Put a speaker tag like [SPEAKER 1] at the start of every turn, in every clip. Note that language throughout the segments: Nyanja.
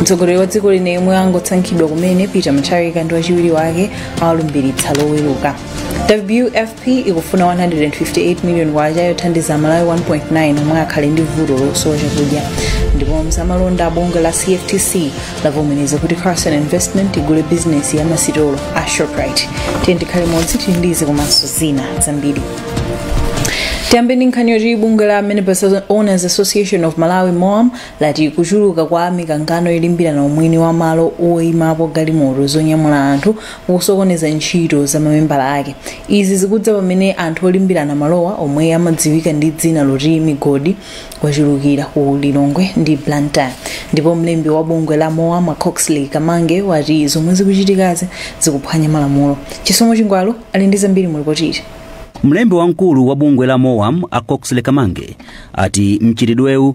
[SPEAKER 1] mtsogoleri wa dziko lino yemwe angosankhidwa kumene peter mutharika ndi wachiwiri wake awalumbiritsa loweruka wfp ikufuna 158 million kwacha yothandiza amalawi 1.9 omwe akhale ndi vuto losowa chakudya ndipo mzamalonda bungwe la cftc lavomereza kuti carson investment igule bizinesi ya masitolo a shoprite tiyeni tikhale limodzi tili ndi izi komanso zina zambiri tiyambe ndi nkhani yoti bungwe la minibus owners association of malawi moam lati kuchuluka kwa mikangano yolimbirana umwini wa malo oimapo galimoto zonyamula anthu kukusokoneza ntchito za mamembala ake izi zikudza pamene anthu olimbirana malowa omwe amadziwika ndi dzina loti migodi achulukira ku lilongwe ndi blantyre ndipo mlembi wa bungwe la moam a coxley kamange wati zomwe zikuchitikazi zikuphwanya malamulo chisomo chingwalu ali ndi zambiri mu lipotili mlembi wamkulu
[SPEAKER 2] wa bungwe la moam a coxley kamange ati mchitidwewu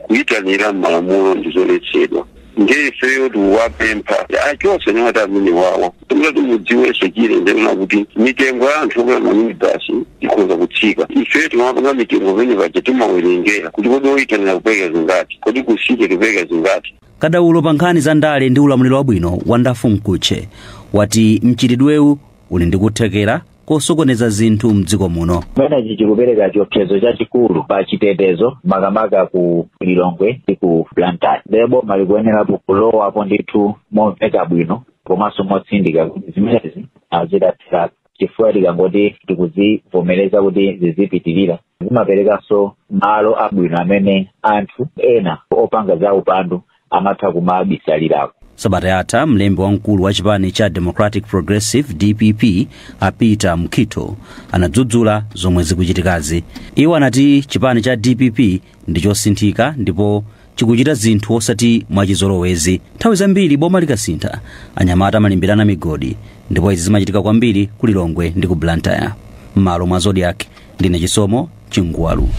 [SPEAKER 3] kuyitanira mmalamulo ndi zoletsedwa ndiye ifeyo tikuwapempha achose nawati amene wawa kuti mudziwenso chire ndena kuti mitengo ya anthu okwera maminibasi ikhoza kutsika ifeyo timapanga mitengo pene paja timawerengera kuti kodi oyitanira tipereka zingati kodi kusiteji tipereka zingati kadaulo pa nkhani
[SPEAKER 2] za ndale ndi ulamuliro wabwino wonderful mkhutche wati mchitidwewu uli ndi kuthekera kosokoneza zinthu mdziko muno chimenechi
[SPEAKER 4] chikupereka chiopsezo chachikulu pa chitetezo makamaka ku lilongwe ndi ku blantyre nde boma likuyenerapo kulowapo ndithu momveka bwino komanso motsindika kuti zimenezi azithetseretu chifukwa tikangoti tikuzivomereza kuti zizipitirira zimaperekanso malo abwino amene anthu ena opanga za upandu amatha kumabisalirako sabata
[SPEAKER 2] yatha mlembi wamkulu wa chipani cha democratic progressive dpp a peter mukhito anadzudzula zomwe zikuchitikazi iwo anati chipani cha dpp ndi chosinthika ndipo chikuchita zinthu osati mwachizolowezi nthawi zambiri boma likasintha anyamata amalimbirana migodi ndipo izi zimachitika kwambiri ku lilongwe ndi ku blantyre m'malo mwa zodiak ndine chisomo chingwalu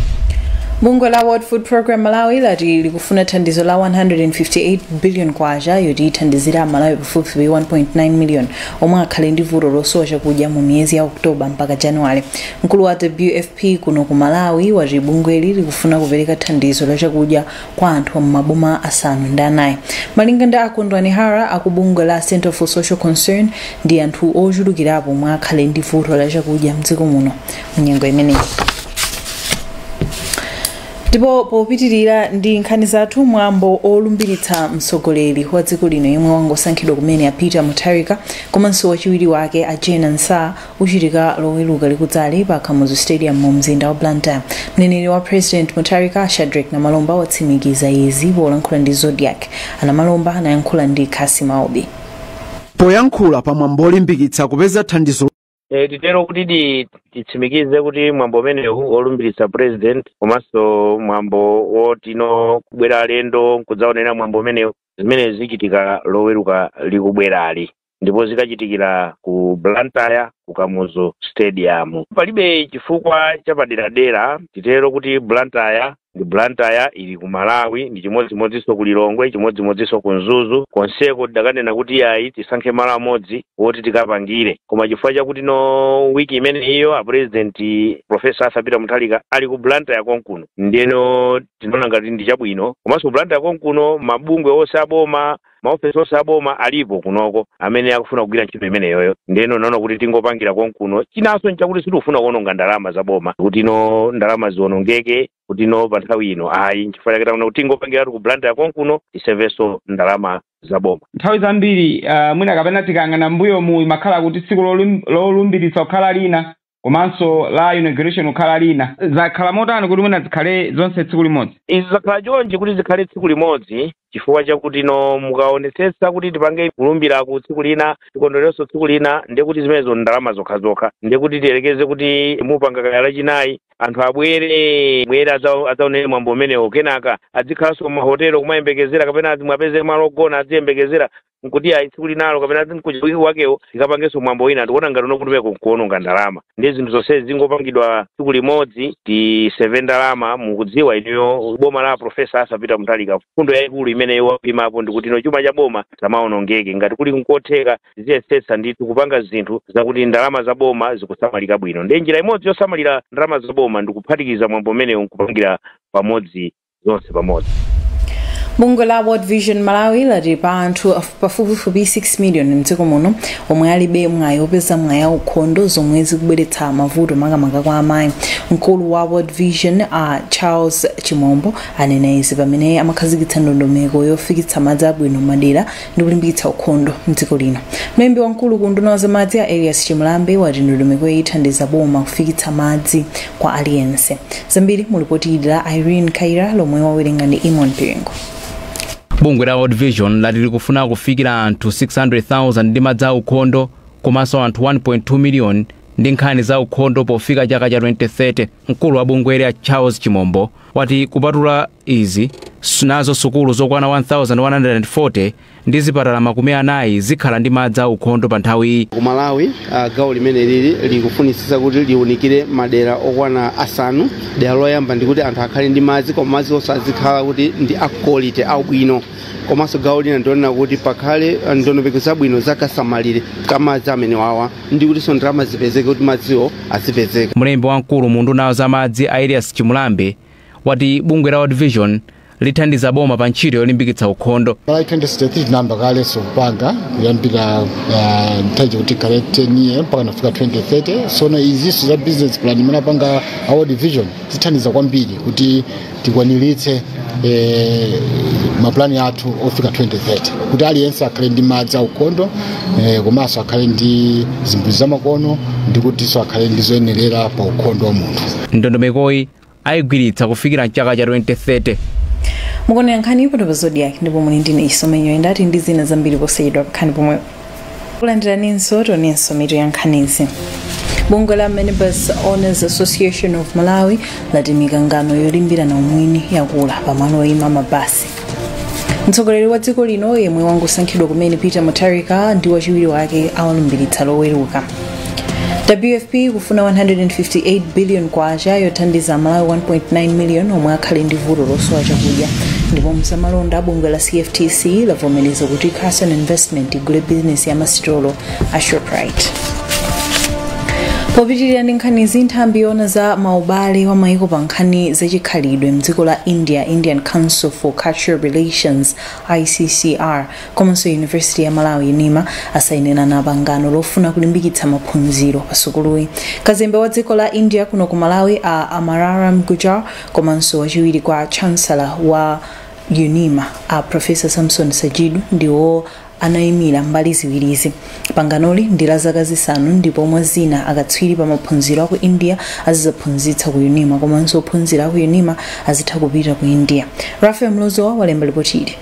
[SPEAKER 1] bungwe la world food program malawi lati likufuna thandizo la 158 billion kwacha yoti ithandizire amalawi pafupifupi 1.9 million omwe akhale ndi vuto losowa chakudya mu miyezi ya oktoba mpaka januwale mkulu wa wfp kuno ku malawi wati bungweli likufuna kupereka thandizo la chakudya kwa anthu a mumaboma asanu ndi anayi malinga ndi a kondwani hara aku bungwe la center for social concern ndi anthu ochulukirapo omwe akhale ndi vuto la chakudya mdziko muno munyengo imeneyi ndipo popitirira ndi nkhani zathu mwambo olumbiritsa mtsogoleri wa dziko lino yemwe wangosankhidwa kumene a peter mutharika komanso wachiwiri wake a jane ansah uchitika loweluka likudzali pa kamuzu stadium mu mzinda wa blantyre mneneri wa president mutharika shadric namalomba watsimikiza izi polankhula ndi zodiak a namalomba anayankhula ndi cassim aubi poyankhula
[SPEAKER 5] pa mwambo olimbikitsa kupeza thandizo E, titero
[SPEAKER 6] kuti di- titsimikize kuti mwambo umenewu olumbiritsa president komanso mwambo wotino kubwera alendo nkudzaonera mwambo umenewu zimene zichitika loweruka likubwerali ndipo zikachitikira ku blantyre ku kamuzu stadium palibe chifukwa chapaderadera titero kuti blantyre ndi blantyre ili ku malawi ndi chimodzimodzinso ku lilongwe chimodzimodzinso ku mzuzu konseko tidakanena kuti ayi tisankhe malo amodzi woti tikapangire koma chifukwa chakuti no wiki imeneyiyo apurezidenti profesa arthur peter mutharika ali ku blantyre konkuno ndiyeno tinaona ngati ndi chabwino komanso ku blantyre konkuno mabungwe onse aboma maofesi onse a boma alipo kunoko amene akufuna kugwira ntchito imeneyoyo ndeno tinaona kuti tingopangira konkuno chinanso nchakuti sitikufuna kuononga ndalama za boma kuti no ndalama zionongeke kuti no pa nthawi ino ayi nchifukwa chake taona kuti tingopangiratu ku blantyre konkuno tisevenso ndalama za boma nthawi
[SPEAKER 7] zambiri uh, mwina kapena tikayang'ana mbuyomu imakhala kuti tsiku lolum- lolumbiritsa kukhala lina komanso la inauguration kukhala lina zakhala motani kuti mwina zikhale zonse tsiku limodzi izi zakhala
[SPEAKER 6] chonchi kuti zikhale tsiku limodzi chifukwa chakuti no mukaonetsetsa kuti tipange kulumbira ku tsiku lina tikondwererenso tsiku lina ndiye kuti zimenezo ndalama zokhazokha ndiye kuti tiyerekeze kuti mupanga kaya lachinayi anthu abwere bwere adza- adzaonere mwambo umenewo kenaka adzikhalanso mahotelo kumayembekezera kapena aziwapezera malo ogona adziyembekezera nkuti ayi tsiku linalo kapena ku wiki wakewo tikapangenso mwambo wina tikuona ngati no kumeneko nkuononga ndalama ndiye zinthu zonse zingopangidwa tsiku limodzi tiseve ndalama mukudziwa inuyo boma la profesa arthur peter mutharika mfundo yayikulu imene iwo imapo ndi kuti no chuma cha boma chisamaonongeke ngati kuli nkotheka ziyesetsa ndithu kupanga zinthu zakuti ndalama za boma zikusamalika bwino ndiye njira imodzi yosamalira ndalama za boma ndikuphatikiza mwambo umenewu nkupangira pamodzi zonse pamodzi
[SPEAKER 1] bungwe la world vision malawi lati pali anthu af- pafupifupi 6 million mdziko muno omwe alibe mwayi opeza madzi aukhondo zomwe zikubweretsa mavuto makamaka kwa amayi mkulu wa world vision a charles chimombo anena izi pamene amakhazikitsa ndondomeko yofikitsa madzi abwino mmadera ndi kulimbikitsa ukhondo mdziko lino mlembi wamkulu ku unduna wa zamadzi a elias chimulambe wati ndondomekoyi ithandiza boma kufikitsa madzi kwa aliyense zambiri mu lipoti ili la irene kayira lomwe wawerenga ndi eamon piringu
[SPEAKER 8] bungwe la world vision lati likufuna kufikira anthu 600,000 ndi madzi a ukhondo komanso anthu 1.2 miliyoni ndi nkhani za ukhondo pofika chaka cha 2030 mkulu wa bungweli a charles chimombo wati kupatula Izi, nazo sukulu zokwana 1,140 ndi zipatala makumi anayi zikhala ndi madzi aukhondo pa nthawiyi. Ku Malawi,
[SPEAKER 9] gawo limenelili likufunitsitsa kuti liunikire madera okwana asanu. Dera loyamba ndi kuti anthu akhale ndi madzi koma madzinso azikhala kuti ndi a quality, aubwino. Komanso gawo lina ndi loona kuti pakhale ndondomeko zabwino za kasamalire ka madzi amenewawa ndi kutinso ndalama zipezeke kuti madziwo azipezeka. Mlembi wamkulu mu
[SPEAKER 8] unduna wa za madzi a Elias Chimulambe wati bungwe la World Vision lithandiza boma pa ntchito yolimbikitsa ukhondo. Malawi 2063
[SPEAKER 10] tinayamba kaleso kupanga kuyambira uh, mtaji kuti kale 10 year mpaka kufika 2030 sono izinso za business plan imene apanga a World Vision zithandiza kwambiri kuti tikwaniritse eh, mapulani athu ofika 2030 kuti aliyense akhale ndi madzi aukhondo eh, komanso akhale ndi zimbudzi zamakono ndi kutinso akhale ndi zoyenerera pa ukhondo wa munthu. Ndondomekoyi
[SPEAKER 8] ayigwiritsa kufikira mchaka cha 2030
[SPEAKER 1] mukuonera nkhani ipano pa zodiak ndipo muli ndine chisomo nyenda tili ndi zina zambiri posachedwa khalani pomwe kulandiraninso tionenso mitu ya nkhanizi bungwe la minibus owners association of malawi lati mikangano yolimbirana umwini yakula pamalo oyima mabasi mtsogoleri wa dziko lino yemwe wangosankhidwa kumene peter mutharika ndi wachiwiri wake awalumbiritsa loweruka wfp kufuna 158 billion kwacha yothandiza amalawi 1.9 million omwe akhale ndi vuto losowa chakudya ndipo mu zamalonda bungwe la cftc lavomereza kuti carson investment igule bizinesi ya masitolo a shoprite popitirira ndi nkhanizi nthambi yoona za maubale wa maiko pa nkhani zachikhalidwe mdziko la india indian council for cultural relations iccr komanso university ya malawi unima asayinirana pangano lofuna kulimbikitsa maphunziro pa sukuluyi kazembe wa dziko la india kuno ku malawi a amararam gujar komanso wachiwiri kwa chancellor wa unima a profesa samson sajidu ndiwo anaimira mbali ziwirizi panganoli ndi la zaka zisanu ndipo mwa zina akatswiri pa maphunziro aku india azizaphunzitsa ku unima komanso ophunzira aku unima azitha kupita ku india raphael mlozoa walemba lipoti ili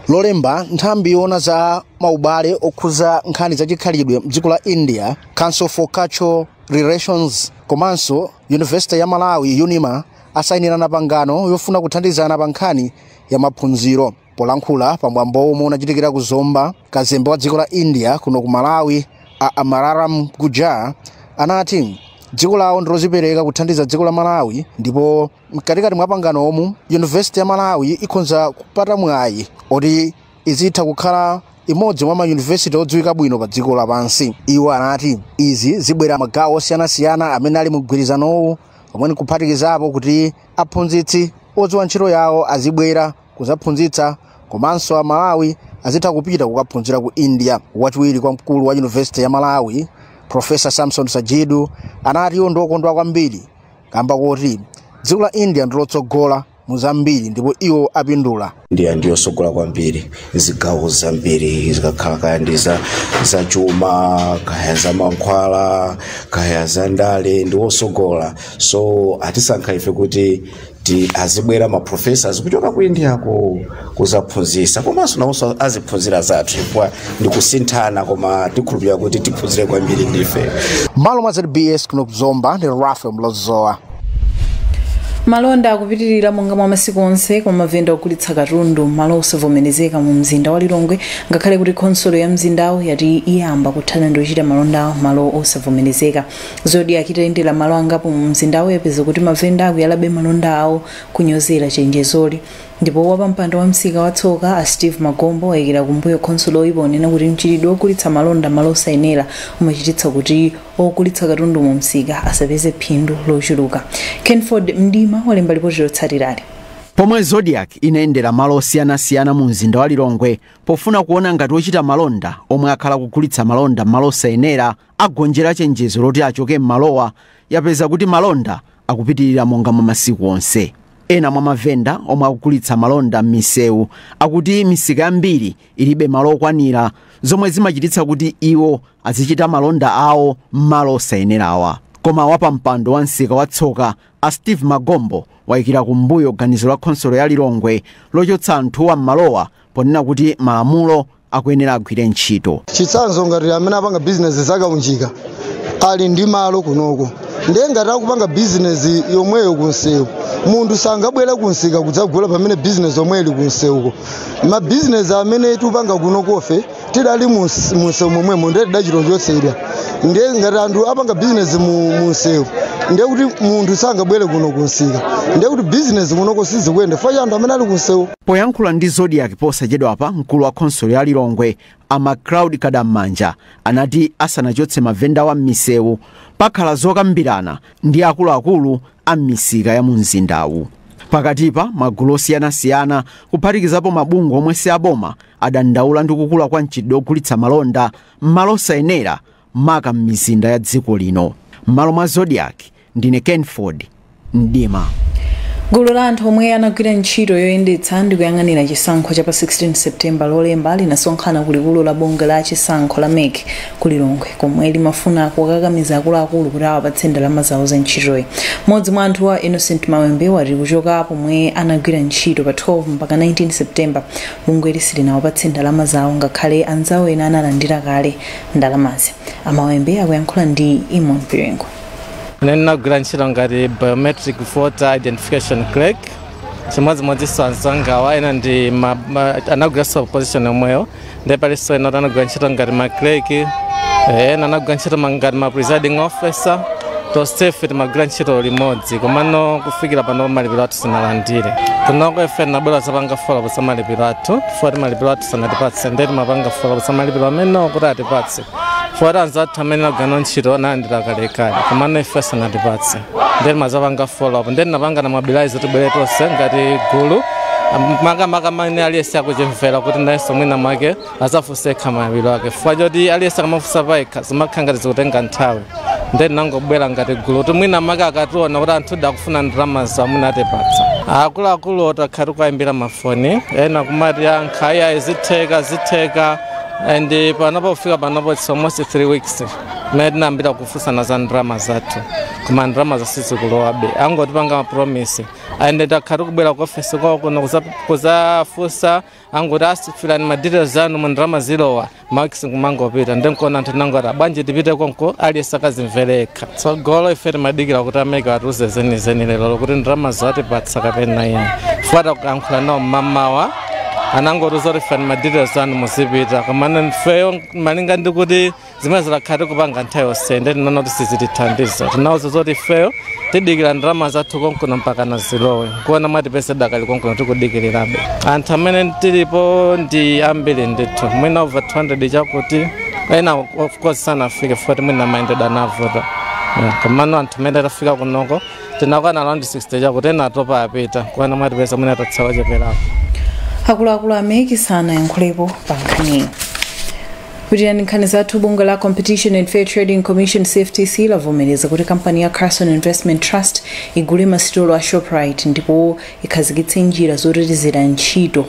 [SPEAKER 1] lolemba
[SPEAKER 11] nthambi yoona za maubale okhuza nkhani za chikhalidwe mdziko la india council for cultural relations komanso yunivesite ya malawi unima asayinirana pangano yofuna kuthandizana pa nkhani ya maphunziro Polankhula pa mwambo omwe unachitikira ku Zomba, kazembe wa dziko la India kuno ku Malawi a Amararam Gujar anati dziko lawo ndilozipereka kuthandiza dziko la Malawi ndipo mkatikati mwa pangano omu University ya Malawi ikhonza kupata mwayi oti izitha kukhala imodzi mwa mayunivesiti odziwika bwino pa dziko lapansi. Iwo anati izi zibwera magawo osiyanasiyana amene ali mu mgwirizanowu omwe nkuphatikizapo kuti aphunzitsi odziwa ntchito yawo azibwera kudzaphunzitsa komanso amalawi azitha kupita kukaphunzira ku india wachiwiri kwa mkulu wa yunivesiti ya malawi profesa samson sajidu anati iwo ndiokondwa kwambiri kamba koti dziko la india ndilotsogola mu zambiri ndipo iwo apindula India
[SPEAKER 12] ndiyosogola kwambiri zigawo zambiri zikakhala kaya ndi za za chuma kaya za mankhwala kaya za ndale ndiwosogola so atisankha ife kuti ti azibwera ma professors kuchoka ku india ko kuzaphunzisa komanso nawonso aziphunzira zathu chifukwa ndikusinthana koma tikhulupirira kuti tiphunzira kwambiri ndife malo mwa zbs
[SPEAKER 11] kuno kuzomba ndi rafael mlozoa
[SPEAKER 1] malonda akupitirira monga mwa masiku onse kwa mavenda ogulitsa katundu malo osavomerezeka mu mzinda wa lilongwe ngakhale kuti khonsolo ya mzindawo yati iyamba kuthana ndi ochita malonda malo osavomerezeka zodiak itayendera m'malo angapo mu mzindawo yapeza kuti mavenda akuyalabe malonda awo kunyozera chenjezoli ndipo wapampando wa msika wa tsoka a steve magombo wayikira kumbuyo khonsoloyi ponena kuti mchitidwe ogulitsa malonda m'malo osayenera umachititsa kuti ogulitsa katundu mu msika asapeze phindu lochuluka kenford mdima walemba lipoti lotsatirali pomwe
[SPEAKER 5] zodiak inayendera malo osiyanasiyana mu mzinda wa lilongwe pofuna kuona ngati ochita malonda omwe akhala akugulitsa malonda m'malo osayenera agonjera chenjezo loti achoke m'malowa yapeza kuti malonda akupitirira monga mwa masiku onse ena mwa mavenda omwe akugulitsa malonda m'misewu akuti misika yambiri ilibe malo okwanira zomwe zimachititsa kuti iwo azichita malonda awo m'malo osayenerawa koma wapampando wa msika wa tsoka a steve magombo wayikira kumbuyo ganizo la khonsolo ya lilongwe lochotsa anthuwa m'malowa ponena kuti malamulo akuyenera agwire ntchito. chitsanzo ngati
[SPEAKER 13] amene apanga bizinesi zakaunjika ali ndi malo kunoko ndiye ngati akupanga bizinesi yomweyo kunsewu munthu sangabwera kunsika kudzagula pamene bizinesi yomwe ili kunsewuko mabizinesi amene tipanga kunokofe tidali muns- munsewu momwemo ndiye tidachita kuchotsedwa ndiye ngati anthu apanga bizinesi mu- munsewu ndiye kuti munthu sangabwere kuno kunsika ndiye kuti bizinesi kunoko sizikuyenda chifukwa anthu amene ali kunsewu Poyankhula ndi Zodiak
[SPEAKER 5] posachedwapa, mkulu wa khonsolo ya Lilongwe a Macloud Kadam'manja anati asanachotse mavendawa m'misewu pakhala zokambirana ndi akuluakulu a m'misika ya mumzindawu. Pakatipa, magulu osiyanasiyana kuphatikizapo mabungwe omwe si aboma adandaula ndi kukula kwa mchitidwe wogulitsa malonda m'malo osayenera maka m'mizinda ya dziko lino m'malo mwa zodiak ndine kenford mdima
[SPEAKER 1] gulu la anthu omwe anagwira ntchito yoyendetsa ndi kuyang'anira chisankho cha pa 16 septemba lolemba linasonkhana ku likulu la bungwe la chisankho la mec ku lilongwe komwe limafuna kukakamiza akuluakulu kuti awapatse ndalama zawo za ntchitoyi mmodzi mwa anthuwa innocent mawembe wati kuchoka pomwe anagwira ntchito pa 12 mpaka 19 septemba bungweli silinawapatse ndalama zawo ngakhale anzawo ena analandira kale ndalamazi a mawembe akuyankhula ndi eamon piringu Ine ndinagwira
[SPEAKER 14] ntchito ngati biometric voter identification clerk chimodzimodzinso anzangawa ena ndi ma- ma- anagwiranso position yomweyo ndi palinso ena anagwira ntchito ngati ma clerk eh, ena anagwira ntchito ma- ngati ma presiding officer tonsefe timagwira ntchito limodzi komano kufikira pano malipiro athu sitinalandire kunoko ife tinabwera kuzapanga follow up za malipiro athu chifukwa choti malipiro athu sanatipatse ndiye timapanga follow up za malipiro amenewo kuti atipatse chifukwa choti anzathu amene tinagwira ntchito analandira kalekale komano ife sanatipatse ndiye timazapanga follow up ndiye tinapanga na mobilize tibwere tonse ngati gulu makamaka amene aliyense akuzimvera kuti nayenso mwina mwake azafunse ekha malipiro ake chifukwa choti aliyense akamafunsa payekha zimakhala ngati zikutenga nthawi nde tinangobwera ngati gulu kuti mwina mwake akationa kuti anthu akufuna ndalama zawo mwina atipatsa akuluakulu takhala tikuwayimbira mafoni ena kumatiyankha ayayi zitheka zitheka and panopo kufika panopo it's almost 3 weeks mmene tinayambira kufunsana za ndalama zathu koma ndalama zo sizikulowabe angotipanga mapromise and takhala tikubwera ku ofesi kwawo kuno kuza- kuzafunsa angoti ah siyirani ma details anu umu ndalama zilowa max kumangopita nde nkuona anthu tinangoti bwanji tipite konko aliyense akazimvere yekha tsogolo ife timadikira kuti a mec atiuze zenizeni lerolo kuti ndalama atipatsa kapena ife titayankhula nawo mmamawa anangotiuza kuti siyirani ma details anu muzipita komano ifeyo malinga ndikuti zimene takhala tikupanga nthawi yonse nde tinaona kuti sizitithandiza tinawauza zoti ifeyo tidikira ndalama zathu konkuno mpaka zilowe kuona mwatipeza tidakali konkuno tikudikirirabe anthu amene tilipo ndi ambiri ndithu mwina over 200 chakuti ena of course sanafike chifukwa choti mwina mayendedwe anavuta Yeah, komano anthu amene tafika kunoko tinakwana around 60 chakuti ena atopa apita kuona mwatipeza mwina tatsala ocheperapo
[SPEAKER 1] akuluakulu a mec sanayankhulepo pa nkhaniyi kupitira nkhani zathu bungwe la competition and fair trading commission cftc lavomereza kuti kampani ya karson investment trust igule masitolo a shoprite ndipo ikhazikitse njira zotetezera ntchito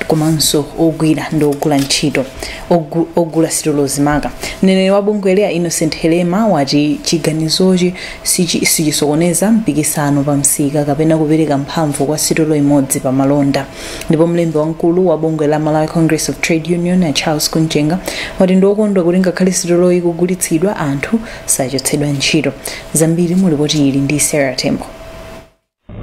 [SPEAKER 1] komanso ogwira ndi ogula ntchito ogu- ogula sitolozi maka mneneri wa bungweli a innocent helema wati chiganizochi sichi- sichisokoneza mpikisano pa msika kapena kupereka mphamvu kwa sitolo imodzi pa malonda ndipo mlembi wamkulu wa bungwe la malawi congress of trade union a charles kumchenga wati ndi okondwa kuti ngakhale sitoloyi ikugulitsidwa anthu sachotsedwa ntchito zambiri mu lipoti ili ndi sarah tembo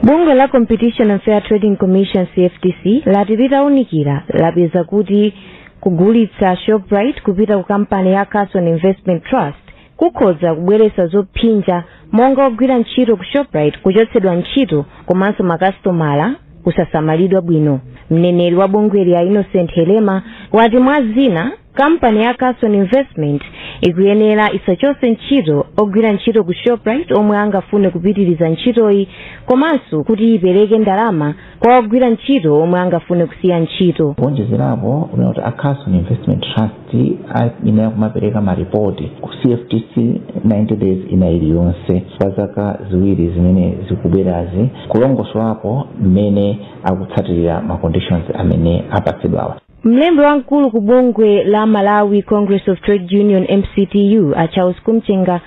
[SPEAKER 15] bungwe la competition and fair trading commission cftc lati litaunikira lapeza kuti kugulitsa shoprite kupita ku kampani ya karson investment trust kukhoza kubweretsa zopsinja monga ogwira ntchito ku shoprite kuchotsedwa ntchito komanso makasitomala kusasamalidwa bwino mneneri wa bungweli a innocent helema wati mwa zina kampani ya karson investment ikuyenera isachotse ntchito ogwira ntchito ku shoprite omwe angafune kupitiriza ntchitoyi komanso kuti ipereke ndalama kwa ogwira ntchito omwe angafune kusiya ntchito kuonjezerapo kunena
[SPEAKER 16] kuti a karson investment trust ayenera kumapereka maripoti ku cftc 90 days ina iliyonse kwa zaka ziwiri zimene zikubwerazi kulongosolapo mmene akutsatirira ma conditions amene apatsidwawa mlembi
[SPEAKER 15] wamkulu ku bungwe la malawi congress of trade union mctu a charles kumchenga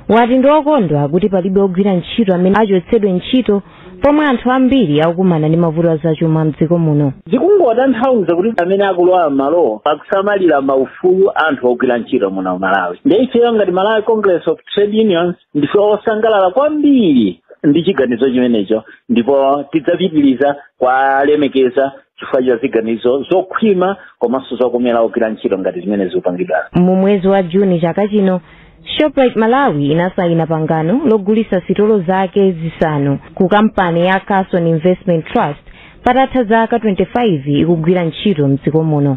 [SPEAKER 15] wati ndi okondwa kuti palibe ogwira ntchito amene achotsedwe ntchito pomwe anthu ambiri akukumana ndi mavuto azachuma mdziko muno zikungotanthauza
[SPEAKER 4] kuti amene akulowa m'malowo akusamalira maufulu anthu ogwira ntchito muno mu malawi ndi ifeyo ngati malawi congress of trade unions ndife osangalala kwambiri ndi chiganizo chimenecho ndipo tidzapitiriza kuwalemekeza chifukwa cha ziganizo zokhwima komanso zokomera ogwira ntchito ngati zimene zikupangidwa mu mwezi wa
[SPEAKER 15] juni chaka chino shoprite malawi inasayina pangano logulitsa sitolo zake zisanu ku kampani ya karson investment trust patatha zaka 25 ikugwira ntchito mdziko muno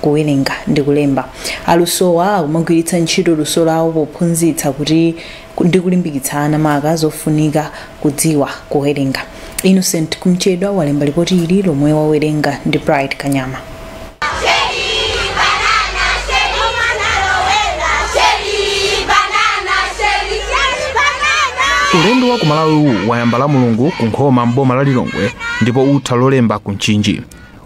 [SPEAKER 1] kuwerenga ndi kulemba. Alusowa akumagwiritsa ntchito luso lawo pophunzitsa kuti ndi kulimbikitsa ana maka zofunika kudziwa kuwerenga. Innocent Kumchedwa walemba lipoti ili lomwe wawerenga ndi Bright Kanyama.
[SPEAKER 17] ulendo wa ku malawiwu wayamba la mulungu ku nkhoma m'boma la lilongwe ndipo utha lolemba ku mchinji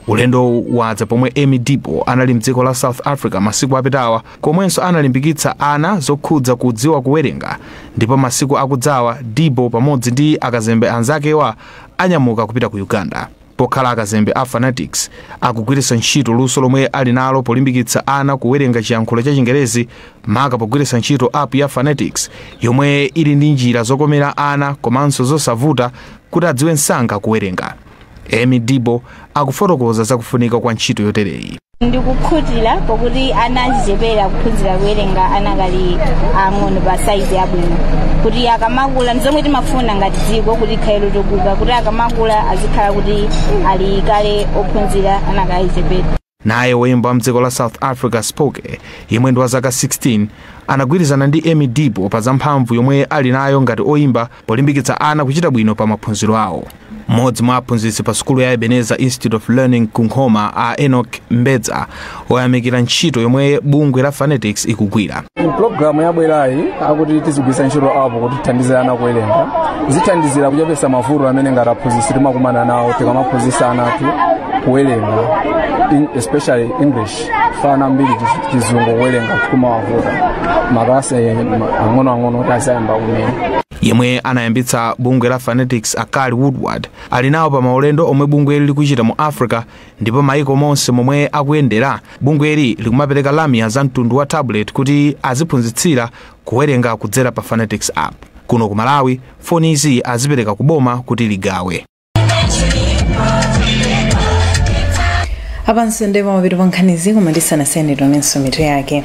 [SPEAKER 17] ulendowu wadza pomwe emmie deebo anali mdziko la south africa masiku apitawa komwenso analimbikitsa ana zokhudza kudziwa kuwerenga ndipo masiku akudzawa deebo pamodzi ndi akazembe anzakewa anyamuka kupita ku uganda pokhala akazembe a funetix akugwiritsa ntchito luso lomwe ali nalo polimbikitsa ana kuwerenga chiyankhulo cha chingerezi maka pogwiritsa ntchito app ya funetix yomwe ili ndi njira zokomera ana komanso zosavuta kuti adziwe msanga kuwerenga Emmie Deebo akufotokoza za kufunika kwa ntchito yotereyi. ndikukhutira
[SPEAKER 18] pokuti ana achichepere akuphunzira kuwerenga anakali ang'ono pa saizi yabwino kuti akamakula ndizomwe timafuna ngati dziko kuti likhale lotukuka kuti akamakula azikhala kuti ali kale ophunzira anakali achichepere Naye
[SPEAKER 17] woyimba wa mdziko la South Africa Spoke yemwe ndi wa zaka 16 anagwirizana ndi Emmie Deebo pa za mphamvu yomwe ali nayo ngati oyimba polimbikitsa ana kuchita bwino pa maphunziro awo. Mmodzi mwa aphunzitsi pa sukulu ya Ebenezer Institute of Learning ku Nkhoma a Enoch Mbedza wayamikira ntchito yomwe bungwe la Funetix ikugwira. pulogalamu
[SPEAKER 19] yabwerayi yakuti tizigwiritsa ntchito app kuti tithandize ana kuwerenga zithandizira kuchepetsa mavuto amene ngati aphunzitsi timakumana nawo tikamaphunzitsa ana athu kuwerenga in- especially english chifukwa ana ambiri chi- chizungu kuwerenga kumawavuta makalasi ang'onoang'ono kuti azayamba kumene yemwe
[SPEAKER 17] anayambitsa bungwe la funetix a kali woodward ali nawo pa maulendo omwe bungweli likuchita mu africa ndipo maiko monse momwe akuyendera bungweli likumapereka lamya za mtundu wa tablet kuti aziphunzitsira kuwerenga kudzera pa funetix app kuno ku malawi fonizi azipereka ku boma kuti
[SPEAKER 1] ligawe apanso ndiye pamapeto pa nkhanizi koma tisanasiyane tionenso mitu yake